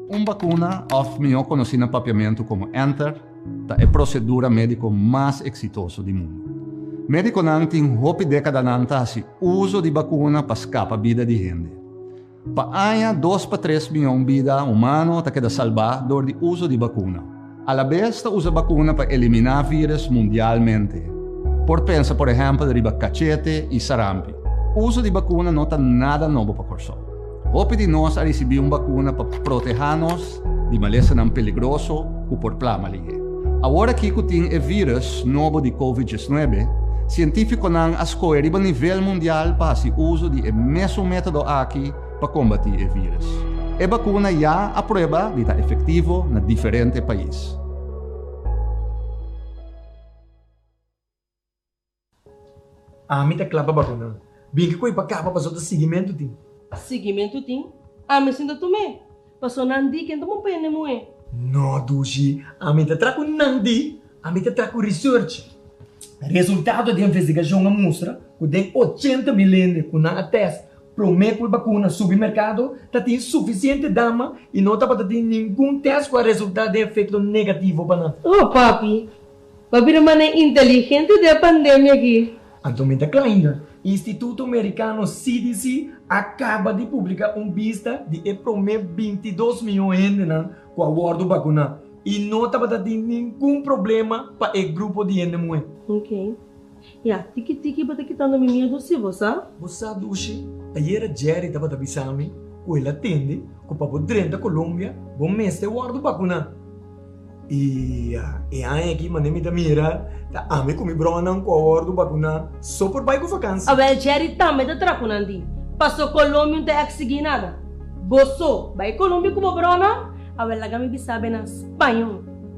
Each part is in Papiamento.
Un bakuna, òf mihó konosí na papiamentu komo ènter, ta e prosedura médiko mas eksitoso di mundu. Médikonan tin hopi dékadanan ta hasi uso di bakuna pa skapa bida di hende. Pa aña dos pa tres mion bida humano ta keda salbá dor di uso di bakuna. Alabes ta usa bakuna pa eliminá vírus mundialmente. Por pensa por ehèmpel riba kachete i sarampi. Uso di bakuna no ta nada nobo pa Kòrsou. Hopi di nos a risibí un bakuna pa protehá nos di malesanan peligroso ku por pla malinge. Awor aki ku tin e vírùs nobo di Covid diesnuebe, sientífikonan a skohe riba nivel mundial pa hasi uso di e mesun método aki pa kombatí e vírùs. E bakuna ya a prueba di ta efektivo na diferente pais. Ami ta kla pa bakunan. Bin ke koe pa kaba paso ta sigimentu tin. Sigimentu tin. Ami sinta tum'e. Paso nan di ken ta bon pa hende muhe. No dushi. Ami ta tra ku nan di. Ami ta tra ku research. Resultado di investigashon a mustra ku den ochenta mil hende ku nan a test prome ku e bakuna subi merkado ta tin sufisiente dama i no tabata tin ningun test ku a resulta den efekto negativo pa nan. Oh papi! Pa bira manera inteligente den e pandemia aki. Antomin ta kla inda. Instituto Merikano CDC a kaba di publiká un bista di e promé binti dos mion hendenan ku a wòrdu bakuná i no tabata tin ningun problema pa e grupo di hende muhé. Ya, tiki tiki bo ta kitando mi miedu si bo sa. Bo sa dushi, ayera Jerry tabata bisa mi cu el a tende cu pa bo drenta Colombia bo mester wordo bacuna. Y ya, e aña aki manera mi ta mira ta ami cu mi bronan cu a wordo bacuna so por bay cu vakansi. Awel Jerry tambe ta traha cu nan di, Paso Colombia no ta exigi nada. Bo so, bay Colombia cu bo bronan? Awel laga mi bisa bay nan Spañol.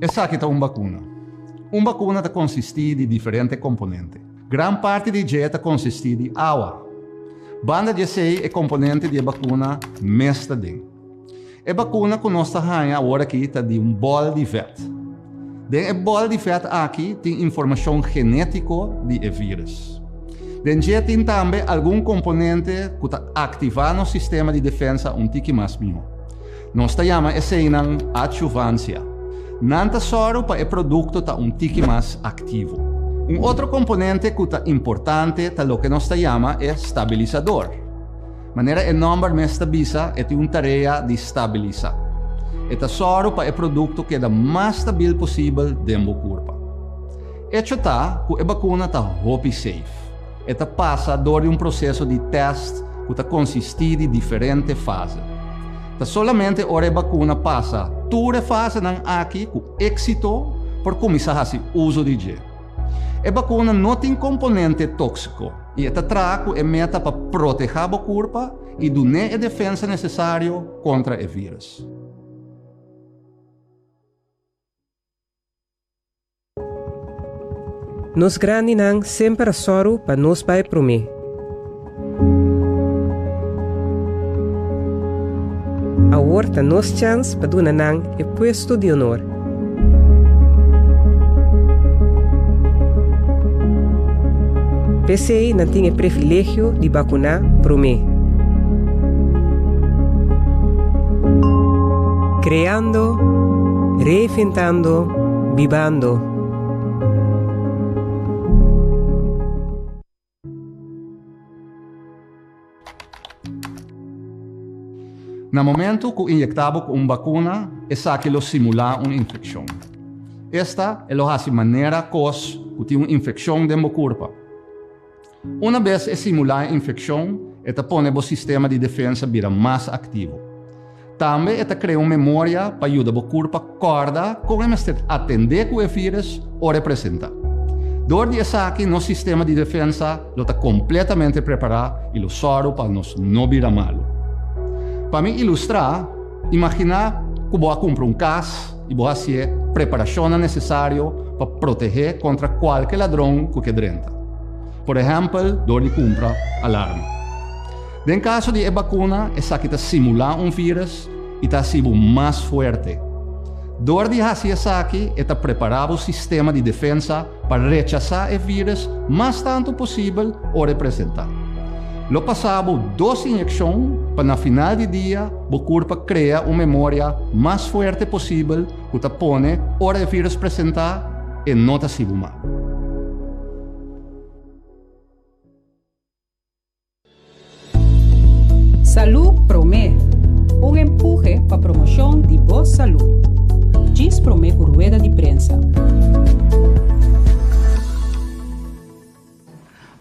Esaki ta un bakuna. Un bakuna ta konsistí di diferente komponente. Gran parti di dje ta konsistí di awa. Banda di esei e komponente di e bakuna mes ta den. E bakuna ku nos ta haña aworakí ta di un bòl di vèt. Den e bòl di vèt aki tin informashon genétiko di e vírus. Den dje tin tambe algun komponente ku ta aktivá nos sistema di defensa un tiki mas mihó. Nos ta yama eseinan adsjuvansia. Nan ta sòru pa e produkto ta un tiki mas aktivo. Un otro komponente ku ta importante ta loke nos ta yama e stabilisador. Manera e nòmber mes ta bisa, e tin un tarea di stabilisa. E ta sòru pa e produkto keda mas stabil posibel den bo kurpa. Echo ta ku e bakuna ta hopi seif. E ta pasa dor di un proseso di tèst ku ta konsistí di diferente fase. Ta solamente ora e bakuna pasa tur e fasenan aki ku éksito por kuminsá hasi uso di dje. E bakuna no tin komponente tóksiko i e ta traha ku e meta pa protehá bo kurpa i dun'é e defensa nesesario kontra e vírùs. Nos grandinan semper a sòru pa nos bai promé. Awor ta nos chans pa duna nan e puesto di onor. P'esei nan tin e privilegio di bakuná promé. Cantando, reinventando, bibando. Na momento cu inyecta bo cu un bacuna, esaki lo simula un infeccion. Esta e lo haci manera cos cu tin un infeccion den bo curpa. Una bes e simulá e infekshon, e ta pone bo sistema di defensa bira mas aktivo. Tambe e ta krea un memoria pa yuda bo kurpa kòrda kon e mester atendé ku e vírus ora e presentá. Dor di esaki nos sistema di defensa lo ta kompletamente prepará i lo sòru pa nos no bira malu. Pa mi ilustrá. Imaginá ku bo a kumpra un kas i bo a hasié preparashonnan nesesario pa protehé kontra kualke ladron ku ke drenta, por ehèmpel dor di kumpra alarma. Den kaso di e bakuna, esaki ta simulá un vírus i ta hasi bo mas fuerte. Dor di hasi esaki e ta prepará bo sistema di defensa pa rechasá e vírus mas tantu posibel ora e presentá. Lo pasá bo dos inyekshon pa na final di dia bo kurpa krea un memoria mas fuerte posibel ku ta pone ora e vírus presentá e no ta sibu mak. Salud Prome, un empuje pa promoshon di bo salud. Djis prome ku rueda di prensa.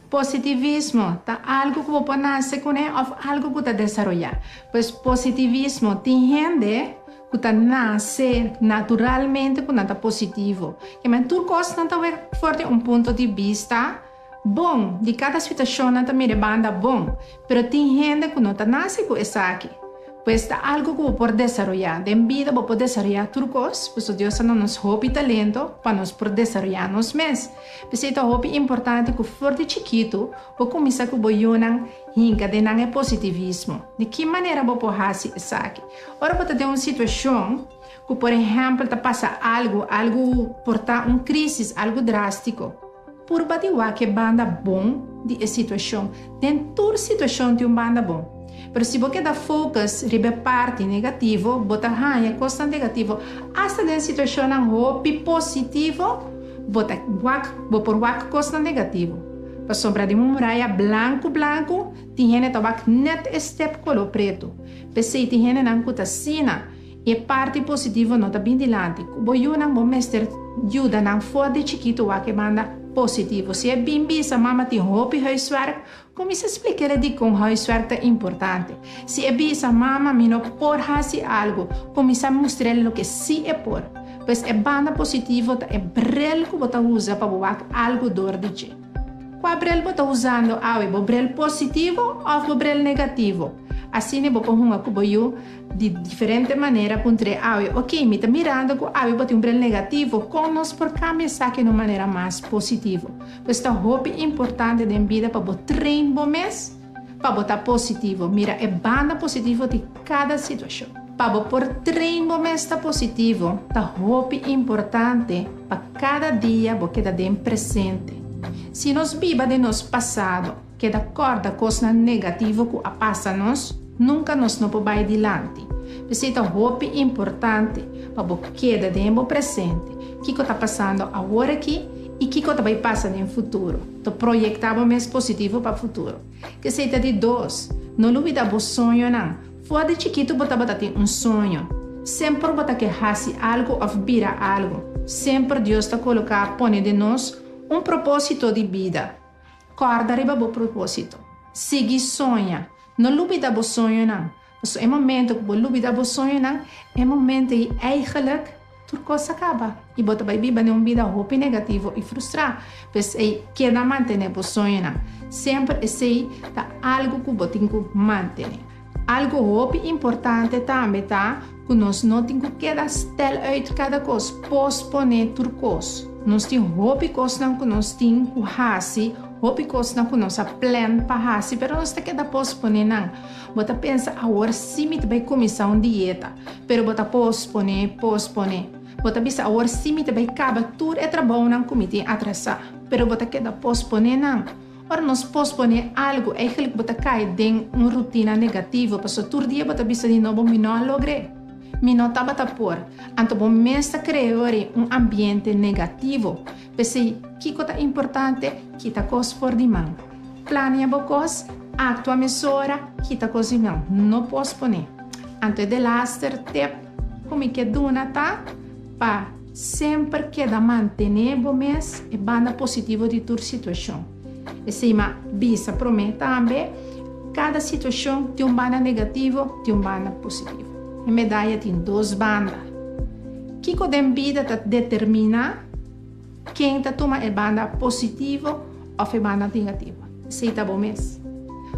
Positivismo ta algu ku bo por nase kuné òf algu ku ta desaroyá. Pues positivismo, tin hende ku ta nase naturalmente ku nan ta positivo. Ke men tur kos nan ta wak for di un punto di bista. Bon, di cada situacionnan ta mira e banda bon, pero tin hende cu no ta naci cu esaki. Pues ta algo cu bo por desaroya. Den bida bo por desaroya tur cos, pasobra Dios a duna nos hopi talento pa nos por desaroya nos mes. P'esey ta hopi importante cu for di chikitu bo cuminsa cu bo yunan hinca den nan e positivismo. Di ki manera bo por haci esaki? Ora bo ta den un situacion cu por ehempel ta pasa algo, algo por ta un crisis, algo drastico. Purba di wak-e banda bon di e situashon. Den tur situashon tin un banda bon. Pero si bo keda focus riba e parti negativo, bo ta haña kosnan negativo. Asta den situashonnan hopi positivo, bo ta wak, bo por wak kosnan negativo. Pasobra den un muraya blanku blanku, tin hende ta wak nèt e stèp koló pretu. P'esei tin hendenan ku ta asina. I e parti positivo no ta bin dilanti. Ku bo yunan bo mester yuda nan for di chikitu wak e banda positivo. Si e bin bisa, Mama tin hopi huiswerk, kuminsá splik'ele dikon huiswerk ta importante. Si e bisa, Mama mi no por hasi algu, kuminsá mustr'el loke sí e por. Pues e banda positivo ta e brel ku bo ta usa pa bo wak algu dor di dje. Kua brel bo ta usando awe, bo brel positivo òf bo brel negativo? Asina bo por hunga ku bo yu. Di diferente manera ku N trei awe. Oke, mi ta mirando ku awe bo tin un brel negativo. Kon nos por kambia esaki na un manera mas positivo? Pues ta hopi importante den bida pa bo train bo mes pa bo ta positivo. Mira e banda positivo di kada situashon. Pa bo por train bo mes ta positivo, ta hopi importante pa kada dia bo keda den presente. Si nos biba den nos pasado. keda kòrda kosnan negativo ku a pasa nos, nunka nos no por bai dilanti. P'esei ta hopi importante pa bo keda den bo presente, kiko ta pasando awor aki i kiko ta bai pasa den futuro. Ta proyektá bo mes positivo pa futuro. P'esei ta di dos, no lubidá bo soñonan. For di chikitu bo tabata tin un soño. Semper bo ta ke hasi algu òf bira algu. Semper Dios ta koloká, pone den nos, un propósito di bida. Kòrda riba bo propósito. Sigui soña. No lubida bo soñonan, pasobra e momentu ku bo lubida bo soñonan, e momentu ei eigelijk tur kos a kaba i bo ta bai biba den un bida hopi negativo i frustrá. P'esei, keda mantené bo soñonan. Semper esei ta algu ku bo tin ku mantené. Algo hopi importante tambe ta ku nos no tin ku keda stèl uit kada kos, posponé tur kos. Nos tin hopi kosnan ku nos tin ku hasi, hopi kosnan ku nos a plèn pa hasi, pero nos ta keda posponé nan. Bo ta pensa, Awor sí mi ta bai kuminsá un dieta. Pero bo ta posponé, posponé. Bo ta bisa, Awor sí mi ta bai kaba tur e trabounan ku mi tin atrasá. Pero bo ta keda posponé nan. Ora nos posponé algu, eigelijk bo ta kai den un rutina negativo, pasobra tur dia bo ta bisa di no bo mi no a logr'é, mi no tabata por, anto bo mes ta creó ri un ambiente negativo. P'esei, kiko ta importante? Kita kos for di man. Planea bo kos, actua mesora, kita kos di man, no posponé. Anto e delaster tep ku mi ke duna ta pa. Semper keda mantené bo mes e banda positivo di tur situashon. Esei ma bisa promé tambe, Kada situashon tin un banda negativo, tin un banda positivo. E medaya tin dos banda. Kiko den bida ta determiná ken ta tuma e banda positivo òf e banda negativo? Esei ta bo mes.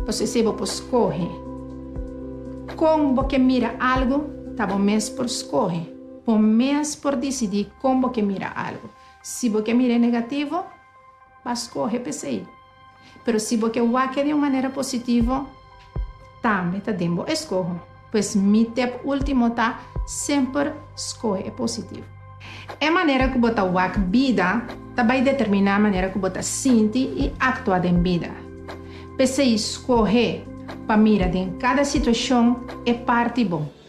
Pasobra esei bo por skohe kon bo ke mira algu, ta bo mes por skohe. Bo mes por disidí kon bo ke mira algu. Si bo ke mira e negativo, pa skohe p'esei. Pero si bo ke wak e di un manera positivo, tambe ta den bo eskoho. Pues mi tep último ta, semper skohe e positivo. E manera ku bo ta wak bida ta bai determiná manera ku bo ta sinti i aktua den bida. P'esei skohe pa mira den kada situashon e parti bo.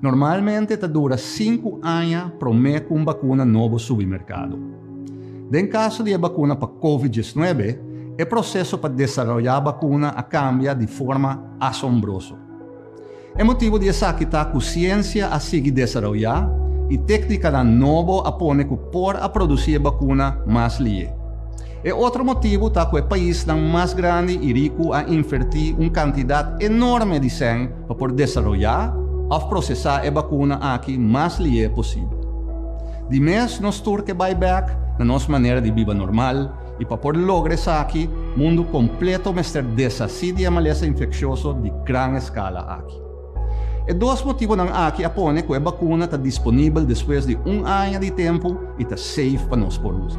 Normalmente ta dura sinku aña promé ku un bakuna nobo subi merkado. Den kaso di e bakuna pa Covid diesnuebe, e proseso pa desaroyá bakuna a kambia di forma asombroso. E motibu di esaki ta ku siensia a sigui desaroyá i téknikanan nobo a pone ku por a produsí e bakuna mas lié. E otro motibu ta cu e paisnan mas grandi y ricu a inverti un cantidad enorme di cen pa por desaroya of procesa e bacuna aki mas lihe posibel. Di mes nos tur ke bay bek na nos manera di biba normal y pa por logra esaki mundu completo mester deshaci di e malesa infeccioso di gran escala aki. E dos motibonan aki a pone ku e bakuna ta disponibel despues di un aña di tempu i ta seif pa nos por usa.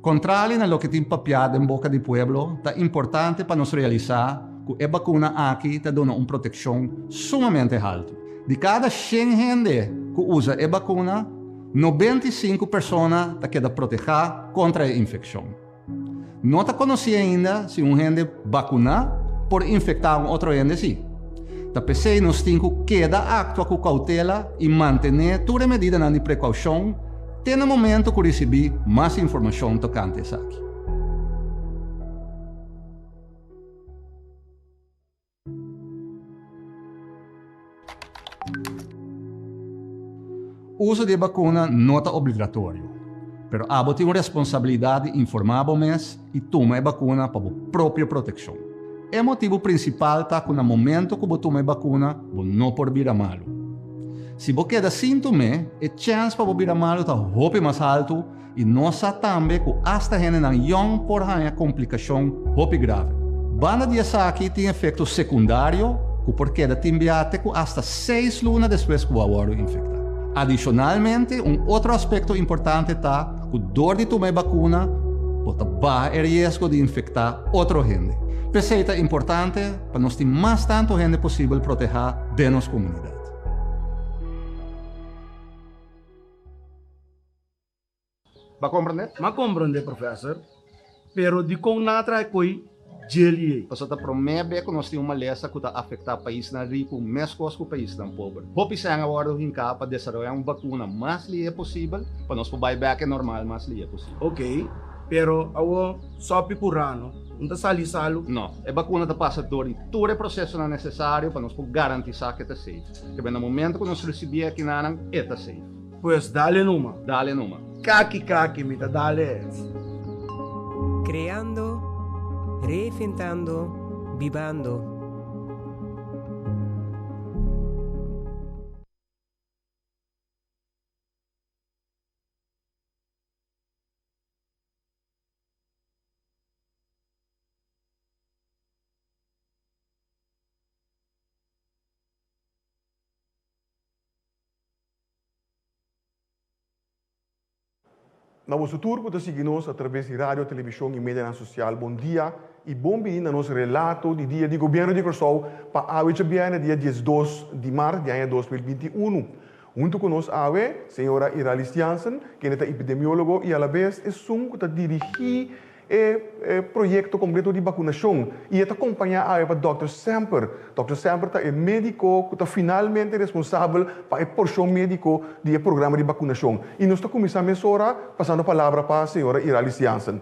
Kontrali na loke tin papiá den boka di pueblo, ta importante pa nos realisá ku e bakuna aki ta duna un protekshon sumamente haltu. Di kada shen hende ku usa e bakuna, nobenta i sinku persona ta keda protehá kontra e infekshon. No ta konosí ainda si un hende bakuná por infektá un otro hende sí. Ta p'esei nos tin ku keda aktua ku koutela i mantené tur e medidanan di prekoushon te na momentu ku risibí mas informashon tokante esaki. Uso di e bakuna no ta obligatorio, pero abo tin un responsabilidat di informá bo mes i tuma e bakuna pa bo propio protekshon. E motibu prinsipal ta ku na momentu ku bo tuma e bakuna bo no por bira malu. Si bo keda sin tum'é, e chèns pa bo bira malu ta hopi mas haltu I nos sa tambe ku asta hendenan yòn por haña komplikashon hopi grave. Banda di esaki tin efekto sekundario ku por keda tin biaten ku asta seis luna despues ku bo a wòrdu infektá. Adishonalmente un otro aspekto importante ta ku dor di tuma e bakuna bo ta baha e riesgo di infektá otro hende. P'esei ta importante pa nos tin mas tantu hende posibel protehá den nos komunidat. M'a komprende? M'a komprende, profèser. Pero dikon nan a traha e koi djeli ei? Pasobra ta promé be ku nos tin un malesa ku ta afektá paisnan riku meskos ku paisnan pober. Hopi sèn a wòrdu hinká pa desaroyá un bakuna mas lié posibel pa nos por bai bèk e normal mas lié posibel. Okei, pero awor sòpi ku rano no ta sali salu? No. E bakuna ta pasa dor di tur e prosesonan nesesario pa nos por garantisá ku e ta seif. Kibè na momentu ku nos risibí e kinannan e ta seif. Pues dale numa. Dale numa. Kaki kaki mi ta dale es. Creando, reinventando, bibando. Na boso tur ku ta sigui nos a traves di radio, televishon i medianan sosial, bon dia i bon bini na nos relato di dia di Gobièrnu di Kòrsou pa awe djabièrnè dia diesdos di mart di aña dos mil binti unu. Huntu ku nos awe, señora Iralis Jansen, kende ta epidemiólogo i alabes esun ku ta dirigí e proyekto kompleto di bakunashon, i e ta kompañá awe pa dòkter Semper. Dòkter Semper ta e médiko ku ta finalmente responsabel pa e porshon médiko di e programa di bakunashon. I nos ta kuminsá mesora pasando palabra pa señora Iralis Jansen.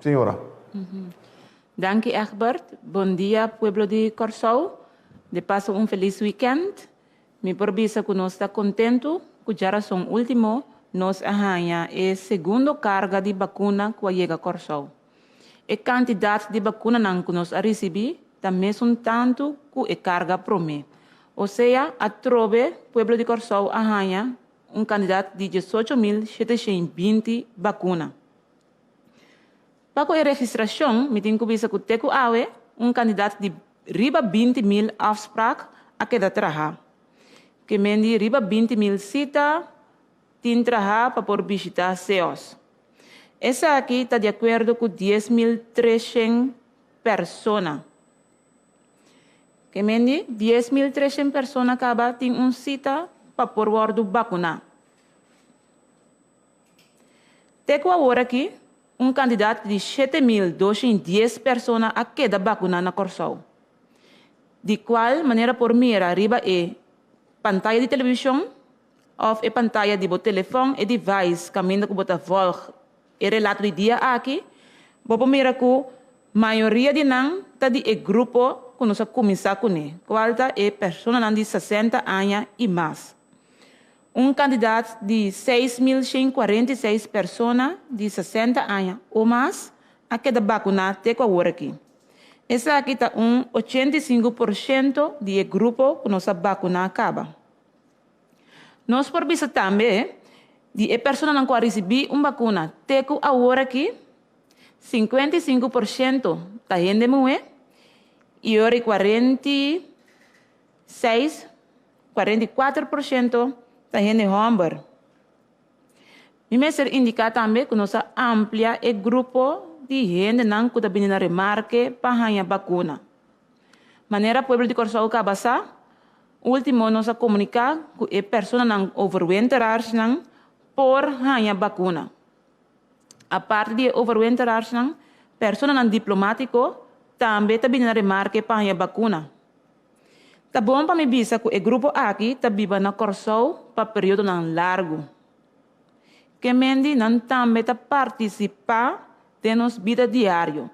Señora. Danki Egbert. Bon dia pueblo di Kòrsou. De paso un felis wikènt. Mi por bisa cu nos ta contento cu djarason ultimo nos a haña e segundo carga di bacuna cu a yega Corsou. E cantidad di bacunanan cu nos a ricibi ta mesun tanto cu e carga prome. O sea, atrobe pueblo di Corsou a haña un cantidad di diesocho mil shete shen binti bacuna. Pa cu e registracion mi tin cu bisa cu te cu awe un candidat di riba binti mil afspraak a keda traha. Cu e men di riba binti mil cita tin traha pa por bishita seos. Esaki ta di acuerdo cu dies mil treshen persona. Cu e men di dies mil treshen persona caba tin un cita pa por wordo bacuna. Te ku awor aki, un kantidat di shete mil doshen dies persona a keda bakuná na Kòrsou. Di kual manera por mira riba e pantaya di televishon òf e pantaya di bo telefòn e device kaminda ku bo ta vòlg e relato di dia aki, bo por mira ku mayoria di nan ta di e grupo ku nos a kuminsá kuné, kual ta e personanan di sesenta aña i mas. Un kandidat di seis mil shen kuarenta i seis persona di sesenta aña o mas a keda bakuná te ku aworakí. Esaki ta un ochenta i sinku por shento di e grupo ku nos a bakuná kaba. Nos por bisa tambe di e personanan ku a risibí un bakuna te ku aworakí, sinkuenta i sinku por shento ta hende muhé i ora i kuarenta i seis Kuarenta i kuater por shento ta hende hòmber. Mi mester indiká tambe ku nos a amplia e grupo di hendenan ku ta bini na Remarke pa haña bakuna. Manera pueblo di Kòrsou kaba sa, último nos a komuniká ku e personanan overwinterarsnan por haña bakuna. Aparte di e overwinterarsnan, personanan diplomátiko tambe ta bini na Remarke pa haña bakuna. Ta bon pa mi bisa cu e grupo aki ta biba na Corsou pa periodonan largu. Kemendi nan tambe ta participa den nos bida diario,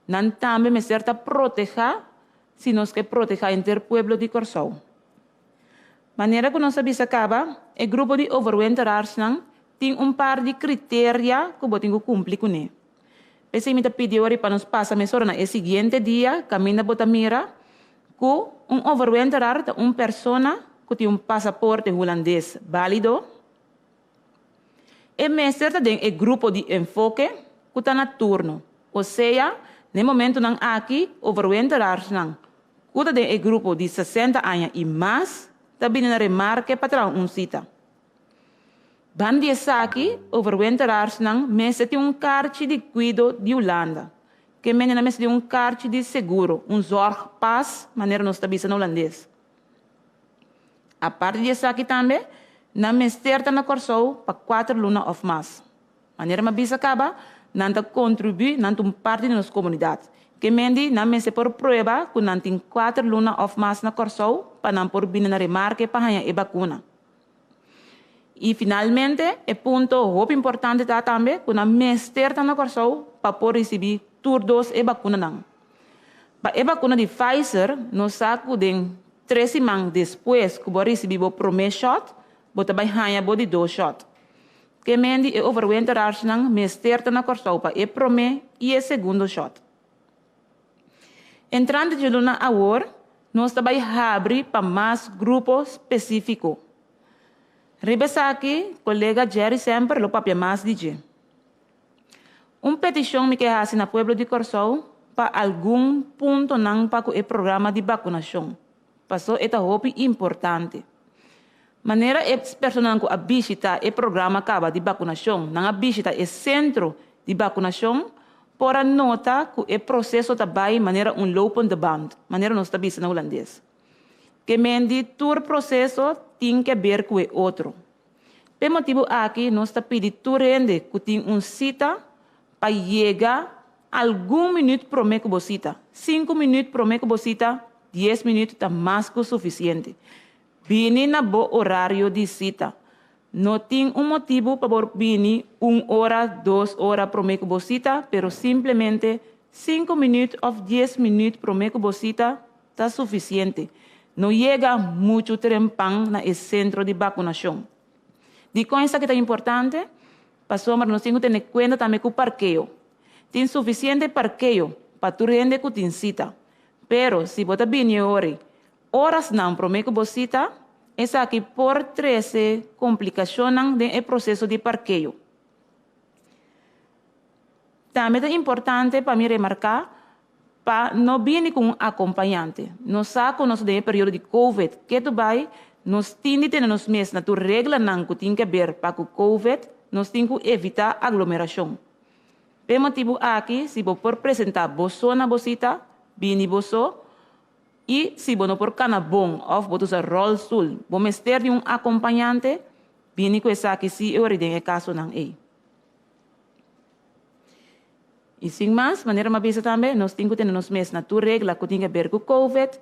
nan tambe mester ta proteha si nos ke proteha henter pueblo di Corsou. Manera cu nos a bisa caba, e grupo di overwinteraars nan tin un par di criteria cu bo tin cu cumpli cune. P'esei mi ta pidi wòrdi pa nos pasa mesora na e siguiente dia kaminda bo ta mira ku un overwinterar ta un persona ku tin un pasaporte hulandes bálido. E mester ta den e grupo di enfoke ku ta na turno, osea n'e momentunan aki overwinterarsnan ku ta den e grupo di sesenta aña i mas ta bini na Remarke pa traha un sita. Ban di esaki, overwinterarsnan mester tin un karchi di kuido di Hulanda. Ke mendinan mester tin un karchi di seguro, un zorgpas, manera nos ta bisa na Hulandes. Aparte di esaki tambe, nan mester ta na Kòrsou pa kuater luna òf mas. Manera mi a bisa kaba, nan ta kontribuí, nan ta un parti di nos komunidat. Ke mendi nan mester por prueba ku nan tin kuater luna òf mas na Kòrsou pa nan por bini na Remarke pa haña e bakuna. I finalmente e punto hopi importante ta tambe ku nan mester ta na Kòrsou pa por risibí tur dos e bakunanan. Pa e bakuna di Pfizer nos sa ku den tres siman despues ku bo a risibí bo promé shòt bo ta bai haña bo di dos shòt. Ke men di e overwinteraarschnan mester ta na Kòrsou pa e promé i e segundo shòt? Entrante dje luna awor, nos ta bai habri pa mas grupo spesífiko. Riba esaki kolega Jerry Semper lo papia mas di dje. Un petishon mi ke hasi na pueblo di Kòrsou pa algun puntonan pa ku e programa di bakunashon. Paso e ta hopi importante. Manera e personan cu a bishita e programa caba di bacunacion nan a bishita e centro di bacunacion por a nota cu e proceso ta bay manera un lopende band, manera nos ta bisa na Hulandes. Kemen di tur proceso tin ke ber cu e otro. P'e motibu aki nos ta pidi tur hende cu tin un cita pa yega. Algun minüt promé ku bo sita. Sinku minüt promé ku bo sita, dies minüt ta mas ku sufisiente. Bini na bo orario di sita. No tin un motibu pa bo bini un ora, dos ora promé ku bo sita, pero simplemente sinku minüt òf dies minüt promé ku bo sita ta sufisiente. No yega muchu trempan na e sentro di bakunashon. Dikon esaki ta importante? Pasobra nos tin ku tene kuenta tambe ku parkeo. Tin sufisiente parkeo pa tur hende ku tin sita. Pero si bo ta bini e hori orasnan promé ku bo sita, esaki por trese komplikashonnan den e proseso di parkeo. Tambe ta importante pa mi remarcá pa no bini cu un acompañante. Nos sa cu nos ta den e periodo di Covid. Ke ta bai, nos tin di tene nos mes na tur reglanan cu tin ke ber pa cu Covid, nos tin cu evitá aglomeracion. P'e motibu aki, si bo por presentá boso na bo cita, bini boso, I si bo no por kana bon òf bo ta usa ròlstul, bo mester di un akompañante bini ku esaki si e ora den e kasonan ei. I sin mas, manera mi a bisa tambe, nos tin ku tene nos mes na tur regla ku tin ke ber ku Covid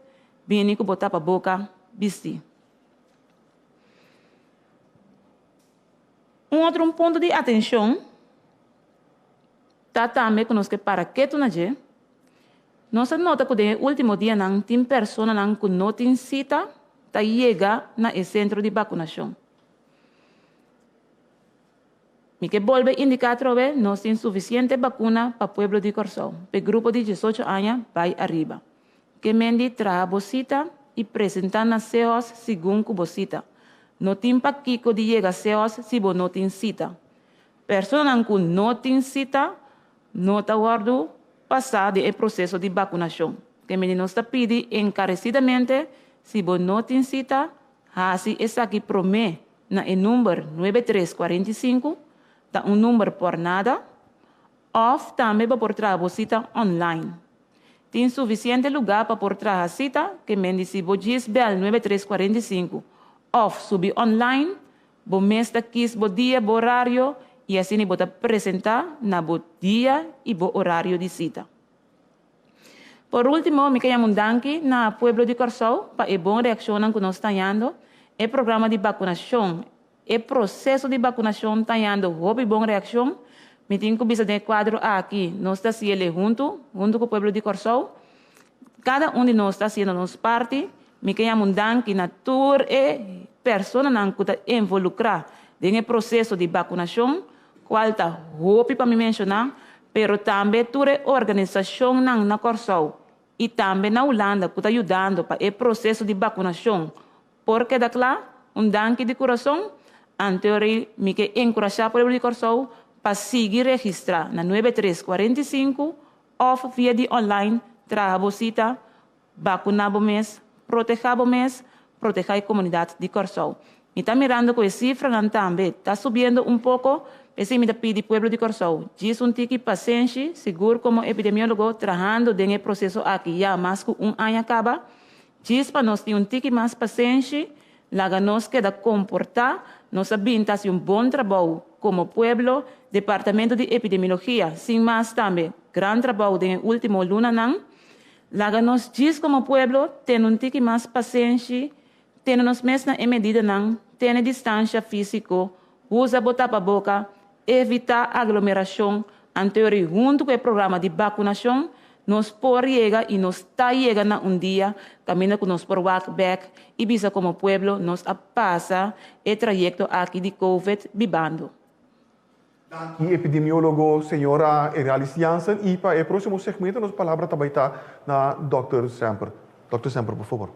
bini ku bo tapa boka bisti. Un otro un punto di atenshon. Ta tambe ku nos ke para ketu na dje. Nos a nota ku den e último dianan tin personanan ku no tin sita ta yega na e sentro di bakunashon. Mi ke bolbe indiká atrobe, nos tin sufisiente bakuna pa pueblo di Kòrsou, p'e grupo di diesocho aña bai ariba. Ke mendi traha bo sita i presentá na COS segun ku bo sita. No tin pa kiko di yega COS si bo no tin sita. Personanan ku no tin sita no ta wòrdu pasá den e proseso di bakunashon. Te mindi nos ta pidi enkaresidamente, si bo no tin sita, hasi esaki promé na e number nuebe tres kuarenta i sinku, ta un number por nada, òf tambe bo por traha bo sita online. Tin sufisiente lugá pa por traha sita, te mindi si bo djis bèl nuebe tres kuarenta i sinku òf subi online, Bo mes ta kis bo dia, bo orario i asina bo ta presentá na bo dia i bo orario di sita. Por último, mi ta yama un danki na pueblo di Kòrsou pa e bon reakshonnan ku nos ta yando. E programa di bakunashon, e proseso di bakunashon ta yando hopi bon reakshon. Mi tin ku bisa den e kuadro aki nos ta siel'e huntu, huntu ku pueblo di Kòrsou. Kada un di nos ta hasiendo nos parti. Mi ke yama un danki na tur e personanan ku ta envolukrá den e proseso di bakunashon, kual ta hopi pa mi menshoná, pero tambe tur e organisashonnan na Kòrsou i tambe na Hulanda ku ta yudando pa e proseso di bakunashon por keda kla. Un danki di kurason. Anteori mi ke enkurashá pueblo di Kòrsou pa sigui registrá na nuebe tres kuarenta i sinku Òf via di online traha bo sita, bakuná bo mes, protehá bo mes, protehá e komunidat di Kòrsou. Mi ta mirando ku e sifranan tambe ta subiendo un poko, p'esei mi ta pidi pueblo di Kòrsou, djis un tiki pasenshi, sigur komo epidemiólogo trahando den e proseso aki ya mas ku un aña kaba, djis pa nos tin un tiki mas pasenshi, Laga nos keda komportá, nos a bin ta hasi un bon trabou komo pueblo, Departamento di Epidemiologia, sin mas tambe gran trabou den e último lunanan. Laga nos djis komo pueblo tene un tiki mas pasenshi, tene nos mes na e medidanan, tene distansha físiko, Usa bo tapaboka, evitá aglomerashon anterior i huntu ku e programa di bakunashon nos por yega i nos ta yega na un dia kaminda ku nos por wak bèk i bisa komo pueblo nos a pasa e trayekto aki di Covid bibando. Danki epidemiólogo señora Eralis Jansen i pa e prósimo segmento nos palabra ta bai ta na dòkter Semper. Dòkter Semper por fabor.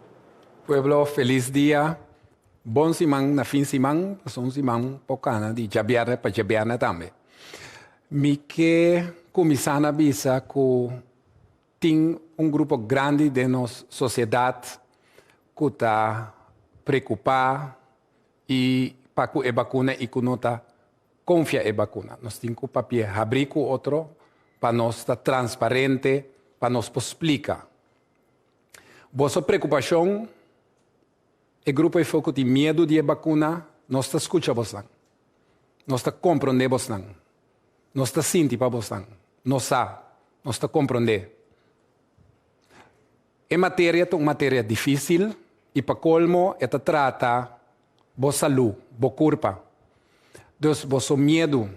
Pueblo felis dia. Bon siman na fin siman pasobra un siman por cana di djabièrnè pa djabièrnè tambe. Mi ke kuminsá na bisa ku tin un grupo grandi den nos sosiedat ku ta preokupá i pa ku e bakuna i ku no ta konfia e bakuna. Nos tin ku papia habrí ku otro pa nos ta transparente, pa nos por splika boso preokupashon E grupo efo ku tin miedu di e bakuna, nos ta skucha bosnan. Nos ta komprondé bosnan. Nos ta sinti pa bosnan. Nos sa. Nos ta komprondé. E materia ta un materia difísil i pa kolmo e ta trata bo salú, bo kurpa. Dus boso miedu.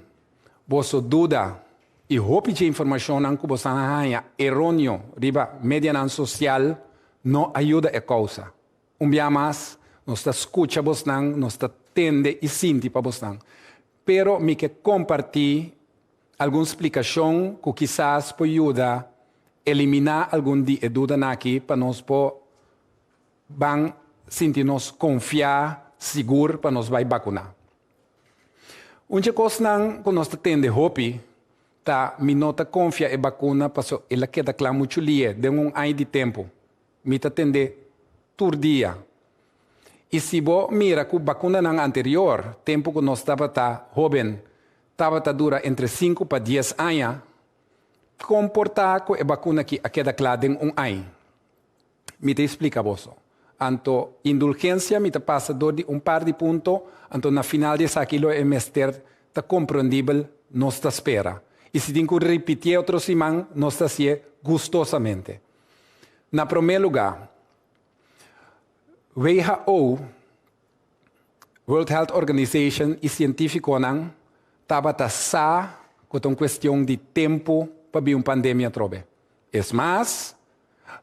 boso duda i hopi dje informashonnan ku boso a haña eronio riba medianan sosial no a yuda e kousa. Un bia mas, nos ta skucha bosnan, nos ta tende i sinti pa bosnan. Pero mi ke kompartí algun splikashon ku kisas por yuda eliminá algun di e dudanan aki pa nos por ban sinti nos konfiá sigur pa nos bai bakuná. Un dje kosnan ku nos ta tende hopi ta mi no ta konfia e bakuna paso el a keda kla muchu li'e den un aña di tempu. Mi ta tende tur dia. I si bo mira ku bakunanan anterior, tempu ku nos tabata hoben, tabata dura entre sinku pa dies aña, kon por ta ku e bakuna aki a keda kla den un aña? Mi ta explica boso. Anto, indulgencia mi ta pasa door di un par di punto, anto na final di esaki lo e mester ta comprendibel, nos ta spera. Y si tin cu ripitié otro siman, nos ta hacié gustosamente. Na prome lugar, who, World Health Organization, y cientificonan tabata sa cu ta un cuestion di tempo pa bin un pandemia atrobe. Es mas.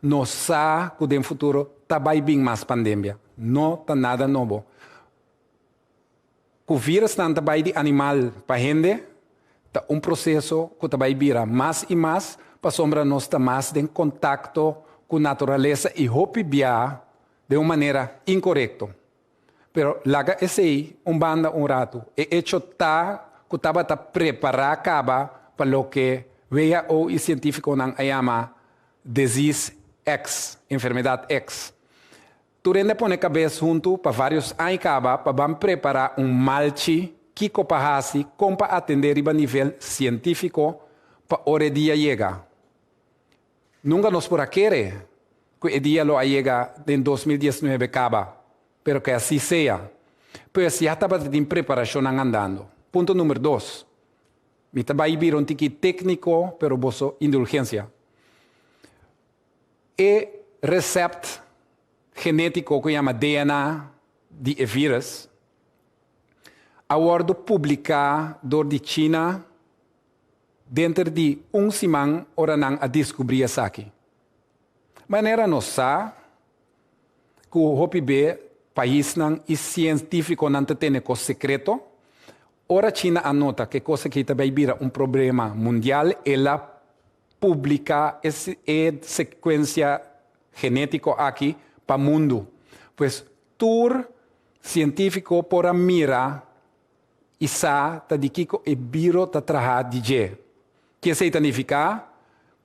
Nos sa cu den futuro ta bay bin mas pandemia. No ta nada nobo. Cu virusnan ta bay di animal pa hende ta un proceso cu ta bay bira mas y mas pasobra nos ta mas den contacto cu naturalesa y hopi bia den un manera incorecto. Pero laga esei un banda un ratu, e echo ta ku tabata prepará kaba pa loke who i sientífikonan a yama Disease X, Enfermedad X. Tur hende a pone kabes huntu pa vários aña kaba pa ban prepará un malchi, kiko pa hasi, kon pa atendé riba nivel sientífiko pa ora e dia yega. Nunka nos por a kere ku e dia lo a yega den dos mil diesnuebe kaba, pero ke asi sea. Pues ya tabata tin preparashonnan andando. Punto number dos, Mi ta bai bira un tiki tekniko, pero boso indulgensia. E resept genetiko ku yama DNA di e vírus a wòrdu publiká dor di China, denter di un siman ora nan a diskubrí esaki. Manera nos sa ku hopi be paisnan i sientífikonan ta tene kos sekreto, ora China a nota ku e kos akí ta bai bira un problema mundial, el a publiká e sekuensia genétiko akí pa mundu. Pues tur sientífiko por a mira I sa ta di kiko e biro ta traha di dje. Ki esei ta nifiká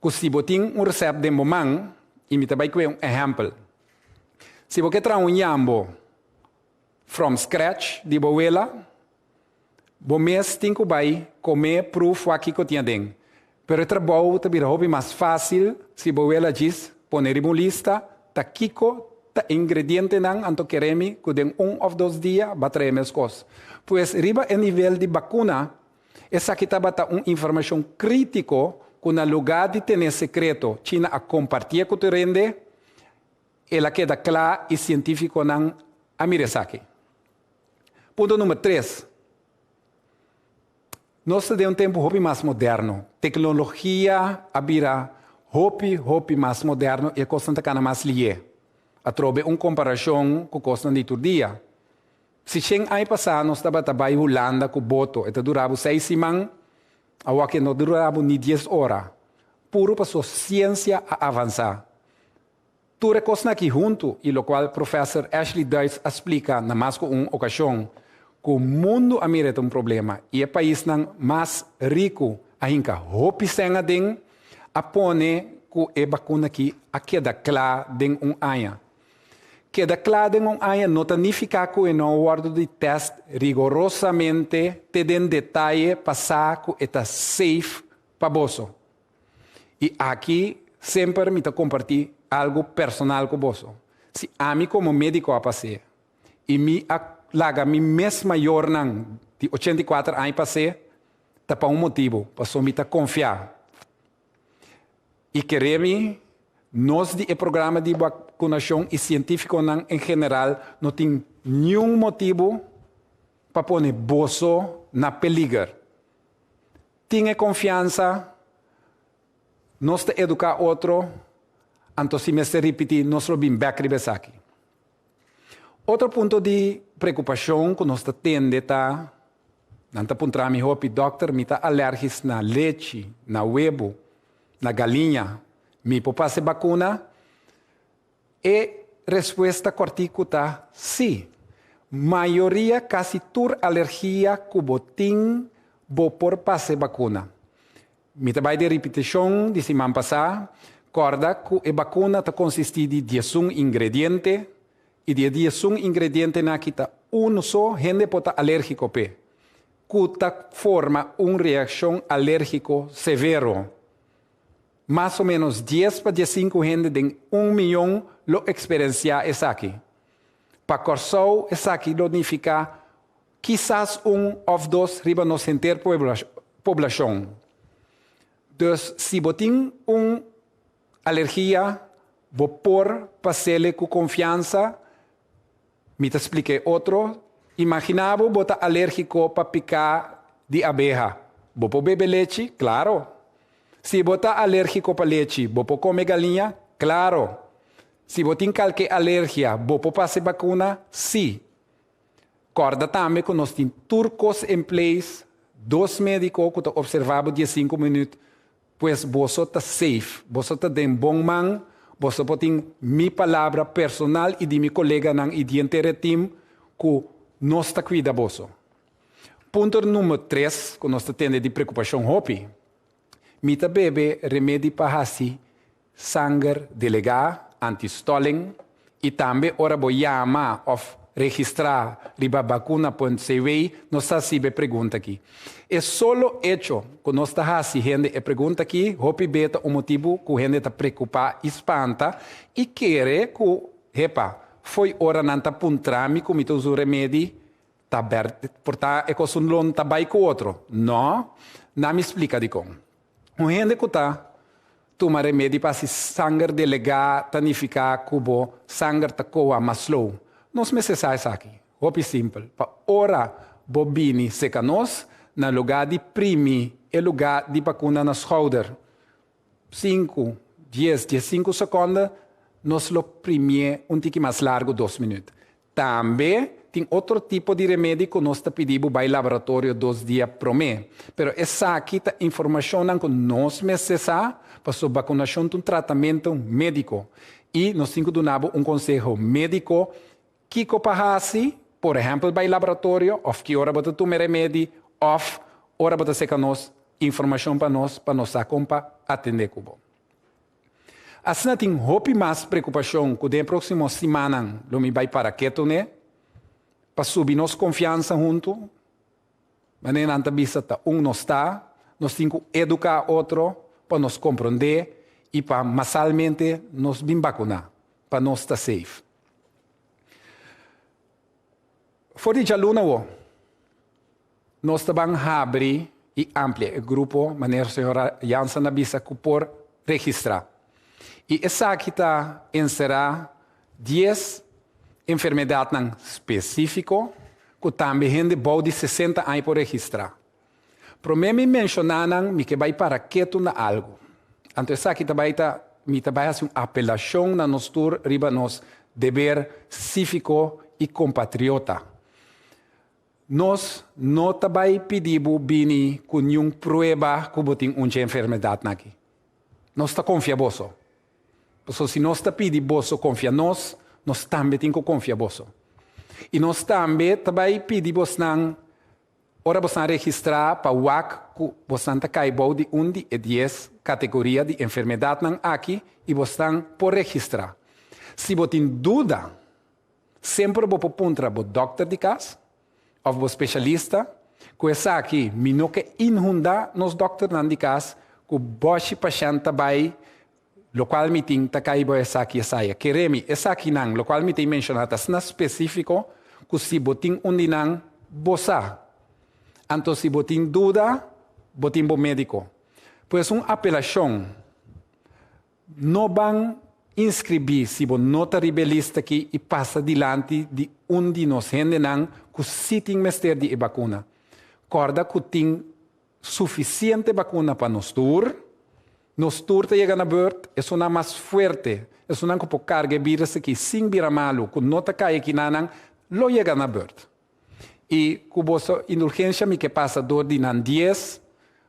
ku si bo tin un resèpt den bo man, i mi ta bai kue un ehèmpel. Si bo ke traha un yambo from scratch di bo wela, bo mes tin ku bai kom'é pruf wak kiko tin aden. Pero e trabou ta bira hopi mas fásil si bo wel a djis pone riba un lista ta kiko ta e ingredientenan anto keremi ku den un òf dos dia ba trae meskos. Pues riba e nivel di bakuna, esaki tabata un informashon krítiko ku na lugá di tene sekreto China a kompartié ku tur hende, el a keda kla i sientífikonan a mira esaki. Punto número tres. Nos ta den un tempu hopi mas moderno. Teknologia a bira hopi, hopi mas moderno i e kosnan ta kana mas lié, atrobe un komparashon ku kosnan di tur dia. Si shen ai pasá nos tabata bai Hulanda ku boto, e ta dura bo seis siman, awoakié no ta dura bo ni dies ora, puru pasobra siensia a avansá. Tur e kosnan aki huntu i lokual Professor Ashley Duits a splika na mas ku un okashon ku mundu a mira e ta un problema i e paisnan mas riku a hinka hopi sèn aden a pone ku e bakuna aki a keda kla den un aña. Keda kla den un aña no ta nifiká ku e no a wòrdu di tèst rigorosamente te den detaye pa sa ku e ta safe pa boso. I aki semper mi ta kompartí algu personal ku boso. Si ami komo médiko a pas'é i mi a laga mi mes mayornan di ochenta i kuater aña pas'é, ta pa un motibu, pasobra mi ta konfiá i keré mi nos di e programa di bakunashon i sientífikonan en general no tin niun motibu pa pone boso na peliger. tin e konfiansa nos ta eduká otro, anto si mester ripití nos lo bin bèk riba esaki. Otro punto di preokupashon ku nos ta tende ta, Nan ta puntrá mi hopi, Dòkter, mi ta alèrgis na lechi, na webo, na galiña. Mi por pa hasi bakuna? E respuesta kòrtiku ta sí. Mayoria kasi tur alergia ku bo tin bo por pas e bakuna. Mi ta bai den ripitishon di siman pasá, kòrda ku e bakuna ta konsistí di diesun ingrediente i di e diesun ingredientenan aki ta unu so hende por ta alérgiko p'e, ku ta forma un reakshon alérgiko severo. Mas o ménos dies pa diesinku hende den un miyon lo eksperensiá esaki. Pa Kòrsou esaki lo nifiká kisas un òf dos riba nos henter poblashon. Dus si bo tin un alergia bo por pasele ku konfiansa. Mi ta splica e otro, Imagina bo bo ta alergico pa pica di abeha. Bo por bebe lechi? Claro! Si bo ta alergico pa lechi, bo por come galiña? Claro! Si bo tin calke alergia, bo por face bacuna? Sí! Corda tambe cu nos tin tur cos en place, dos medico cu ta observa bo diescinco minuut, Pues boso ta safe. Boso ta den bon man, boso por tin mi palabra personal i di mi koleganan i di henter tim ku nos ta kuida boso. Punto number tres ku nos ta tende di preokupashon hopi, mi ta bebe remedi pa hasi Sanger delegá anti stalling y tambe ora bo yama of registrá riba vacuna.cw nos ta hacib'e pregunta aki. E solo hecho cu nos ta haci hende e pregunta aki hopi be ta un motibu cu hende ta preocupá y spanta y kere cu hepa fo'i ora nan ta puntrá mi cu mi ta usa un remedi ta bert porta e cos un lon ta bay cu otro no na mi splica dicon. Un hende ku ta tuma remedi pa si sanger delegá ta nifiká ku bo sanger ta koa mas slow. Nos mester sa esaki. Hopi simpel. Pa ora bo bini seka nos, na lugá di primi e lugá di bakuna na skouder, sinku, dies, diesinku sekonde, nos lo primié un tiki mas largu, dos minüt. Tambe tin otro tipo di remedi cu nos ta pidi bo bay laboratorio dos dia prome. Pero esaki ta informacionnan cu nos mester sa pasobra vacunacion ta un tratamento medico y nos tin cu duna bo un conseho medico kico pa haci, por ehempel bay laboratorio of ki ora bo ta tuma e remedi of ora bo ta seca nos informacion pa nos pa nos sa con pa atende cu bo. Asina tin hopi mas preokupashon ku den próksimo simannan lo mi bai para ketu n'e pa subi nos konfiansa huntu. Manera nan ta bisa ta un nos ta, nos tin ku eduká otro pa nos komprondé i pa masalmente nos bin bakuná pa nos ta seif. For di djaluna awor. Nos ta ban habri i amplia e grupo manera señora Jansen a bisa ku por registrá. I esaki ta enserá dies enfermedatnan spesífiko ku tambe hende bou di sesenta aña por registrá. Promé mi menshoná nan mi ke bai para ketu na algu. Anto esaki ta bai ta mi ta bai hasi un apelashon na nos tur riba nos deber sífiko i kompatriota. Nos no ta bai pidi bo bini ku niun prueba ku bo tin un dje enfermedatnan akí. Nos ta konfia boso. Pasobra si nos ta pidi boso konfia nos, nos tambe tin ku konfia boso. I nos tambe ta bai pidi bosnan ora bosnan registrá pa wak ku bosnan ta kai bou di un di e dies kategoria di enfermedatnan akí i bosnan por registrá. Si bo tin duda. Semper bo por puntra bo dòkter di kas òf bo speshalista ku esaki. Mi no ke inhundá nos dòkternan di kas ku bòshi pashènt ta bai lokual mi tin ta kai bo esaki esai. A kere mi, esakinan lokual mi ta a menshoná ta sna spesífiko ku si bo tin un di nan bo sa. Anto si bo tin duda, bo tin bo médiko. Pues un apelashon No ban inscribí si bo no ta riba e lista aqui y pasa dilanti di un di nos hendenan cu si tin mester di e bacuna. Corda cu tin suficiente bacuna pa nos tur. Nos tur ta yega na beurt. Esunnan mas fuerte, esunnan cu por carga e virus aqui sin bira malu, cu no ta cay aqui nanan, lo yega na beurt. I ku boso indulgensia mi ke pasa dor di nan dies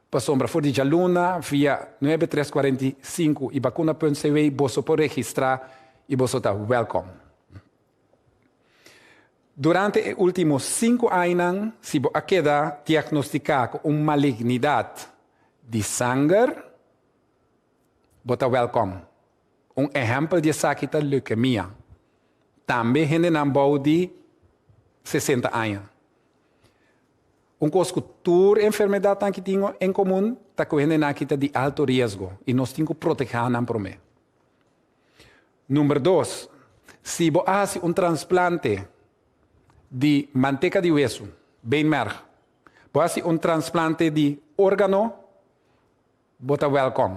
pasobra for di djaluna via nuebe tres cuarenta i sinku i bakuna punt CW boso por registrá i boso ta wèlkom. Durante e último sinku añanan si bo a keda diagnostiká ku un malignidat di sanger bo ta wèlkom. Un ehèmpel di esaki ta leukemia, tambe hendenan bou di sesenta aña. Un kos ku tur enfermedatnan ki tin en komun ta ku hendenan aki ta di alto riesgo i nos tin ku protegá nan promé. Number dos, si bo a hasi un transplante di manteka di wesu, beenmerg, bo a hasi un transplante di órgano, Bo ta wèlkòm,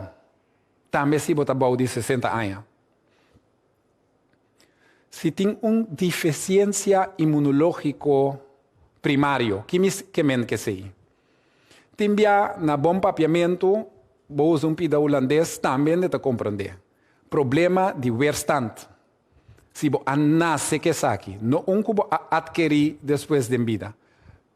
tambe si bo ta bou di sesenta aña. Si tin un difisiensia imunológiko primario, ki mi ke men ke esei? Tin bia na bon papiamentu bo usa un pida hulandes tambe n'e ta komprondé. Problema di weerstand. Si bo a nase ke esaki, no un ku bo a adkerí despues den bida.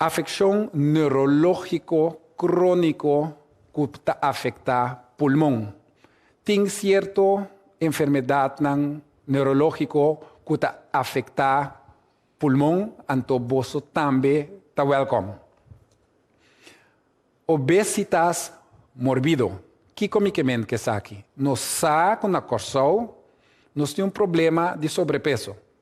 Afekshon neurológiko króniko ku ta afektá pulmon. Tin sierto enfermedatnan neurológiko ku ta afektá pulmon, anto boso tambe ta wèlkòm. Obesitas morbido. Kiko mi ke menta esaki? Nos sa ku na Kòrsou nos tin un problema di sobrepeso.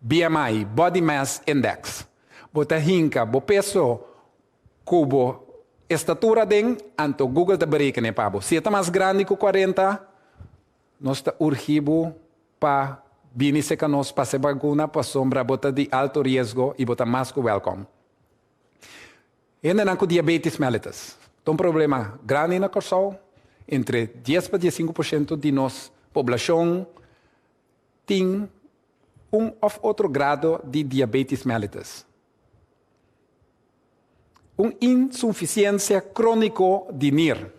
BMI, Body Mass Index, bo ta hinka bo peso ku bo estatura aden, anto Google ta berekené pa bo. Si e ta mas grandi ku kuarenta, nos ta urgí bo pa bini seka nos pa hasi bakuna pasobra bo ta di alto riesgo i bo ta mas ku wèlkòm. Hendenan ku diabetis mellitus ta un problema grandi na Kòrsou, entre dies pa diesinku por shento di nos poblashon tin un of otro grado di diabetes mellitus, un insufisiencia cronico di nier,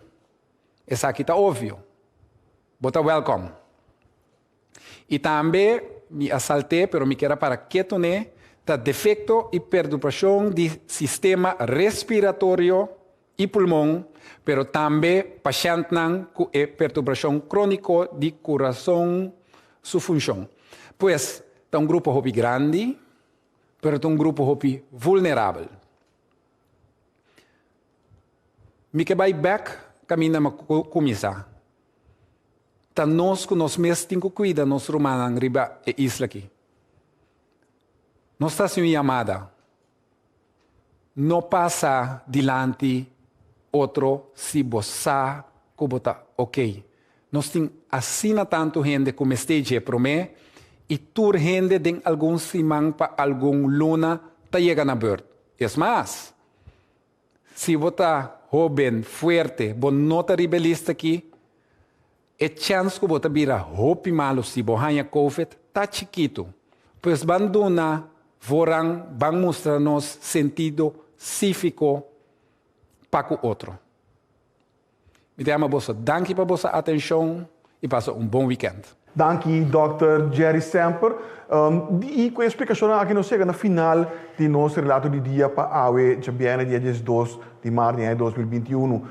esaki ta obvio, bo ta welcome. Y tambe mi a salte pero mi kier a para ketu ne, ta defecto y perdubacion di sistema respiratorio i pulmon, pero tambe pashèntnan ku e perturbrashon króniko di kurason su funshon. Pues, ta un grupo hopi grandi, pero ta un grupo hopi vulnerabel. Mi ke bai bèk kaminda mi a kuminsá. Ta nos ku nos mes tin ku kuida nos rumannan riba e isla akí. Nos ta hasi un yamada. No pasa dilanti otro si bo sa ku bo ta ok. Nos tin asina tantu hende ku mester dje promé i tur hende den algun siman pa algun luna ta yega na burt. Es mas, si bo ta hóben, fuerte, bo no ta ribelis ta ki, E chèns ku bo ta bira hopi malu si bo haña Covid ta chikitu. Pues ban duna voran ban mustra nos sentido síviko pa ku otro. Mi ta yama boso danki pa boso atenshon i pasa un bon wikènt. Danki Dòkter Jerry Semper i ku e splikashonnan aki nos yega na final di nos relato di dia pa awe djabièrnè dia diesdos di maart di aña dos mil binti unu.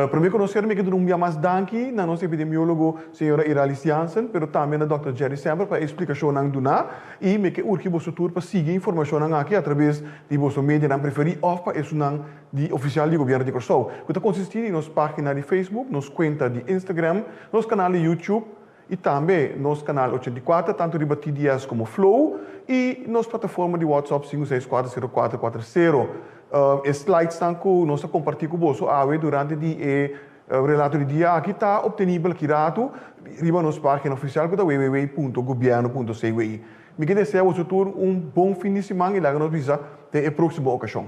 Promé konosero mi ke duna un bia mas danki na nos epidemiólogo señora Iralis Jansen, pero tambe na dòkter Jerry Semper pa e splikashonnan duná i mi ke urgi boso tur pa sigui e informashonnan aki atrabes di boso medianan preferí òf pa esunnan di ofisial di gobièrnu di Kòrsou ku ta konsistí di nos página di Facebook, nos kuenta di Instagram, nos kanal di YouTube, y tambe nos canal ochenta i kuater tanto riba TDS como Flow y nos plataforma di WhatsApp sinku seis kuater sero kuater kuater sero. E slidesnan cu nos ta comparti cu boso awe durante di e Relato di Dia aki ta obtenibel aki ratu riba nos pagina oficial cu ta www.gobierno.cw. Mi ke desea boso tur un bon fin di siman y laga nos bisa den e proximo ocasion.